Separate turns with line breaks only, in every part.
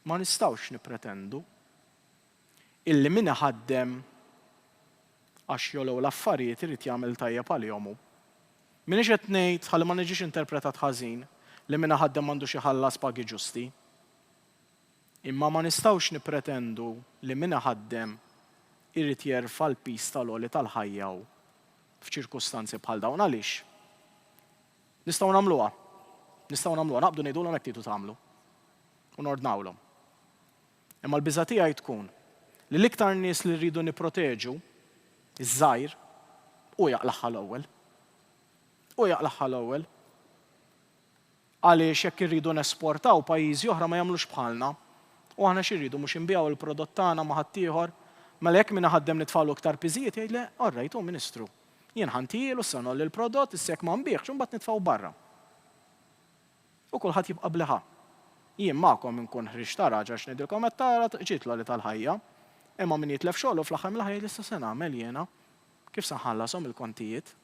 Ma nistgħux nippretendu illi min iħaddem għax jogħlew l-affarijiet irid jagħmel tajjeb għalihom hu. M'iniex qed ngħid, ħalli ma niġix interpretat ħażin, li min iħaddem m'għandux iħallas pagi ġusti. Imma ma nistgħux nippretendu li min iħaddem irid jerfa' l-piż tal-għoli tal-ħajja hu f'ċirkustanzi bħal dawn. Għaliex? Nistgħu nagħmluha. Nistgħu nagħmluha. Naqbdu ngħidulhom hekk tridu tagħmlu. u nordnawlhom. Imma l-biża' tiegħi tkun li l-iktar nies li rridu nipproteġu, iż-żgħir, hu jaqlagħha l-ewwel. Hu jaqlagħha l-ewwel. Għaliex jekk irridu nesportaw, pajjiżi oħra ma jagħmlux bħalna. U aħna xi rridu, mhux inbigħu l-prodott tagħna ma' ħaddieħor? Mela jekk min iħaddem nitfgħulu iktar piżijiet, jgħid le, all right, hu Ministru. Jien ħa ntijielu, issa ngħolli l-prodott, issa jekk ma nbiegħx, imbagħad nitfgħu barra. U kulħadd jibqa' bl-iħa. Jien magħkom inkun ħriġt għaraġ għax ngħidilkom qed tara tqġiet l-għoli tal-ħajja. Imma min jitlef xogħlu fl-aħħar mill-aħħar jgħid issa se nagħmel jiena? Kif se nħallashom il-kontijiet?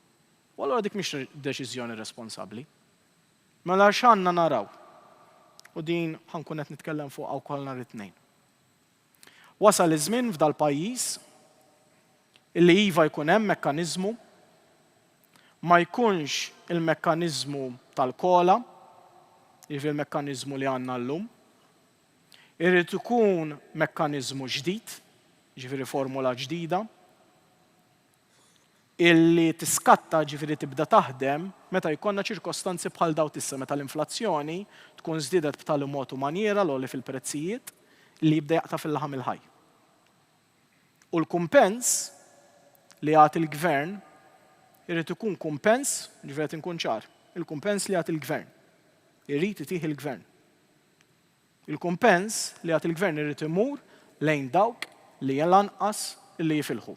U allura dik mhix deċiżjoni responsabbli. Mela x'għandna naraw? U din ħa nkun qed nitkellem fuqha wkoll nhar it-Tnejn. Wasal iż-żmien f'dal-pajjiż illi iva jkun hemm mekkaniżmu, ma jkunx il-mekkaniżmu tal-COLA, jiġifieri l-mekkaniżmu li għandna llum. Irid ikun mekkaniżmu ġdid, jiġifieri formula ġdida. li tiskatta, jiġifieri tibda taħdem, meta jkollna ċirkostanzi bħal dawn t'issa meta l-inflazzjoni tkun żdiedet b'tali mod u manjiera l-għoli fil-prezzijiet li jibda jaqta' fil-laħam il-ħaj. U l-kumpens li jagħti l-gvern irid ikun kumpens, jiġifieri qed inkun ċar, il-kumpens li jagħti l-gvern, irid itih il-gvern. Il-kumpens li għad il-Gvern irid imur lejn dawk li l-anqas li jifilħu.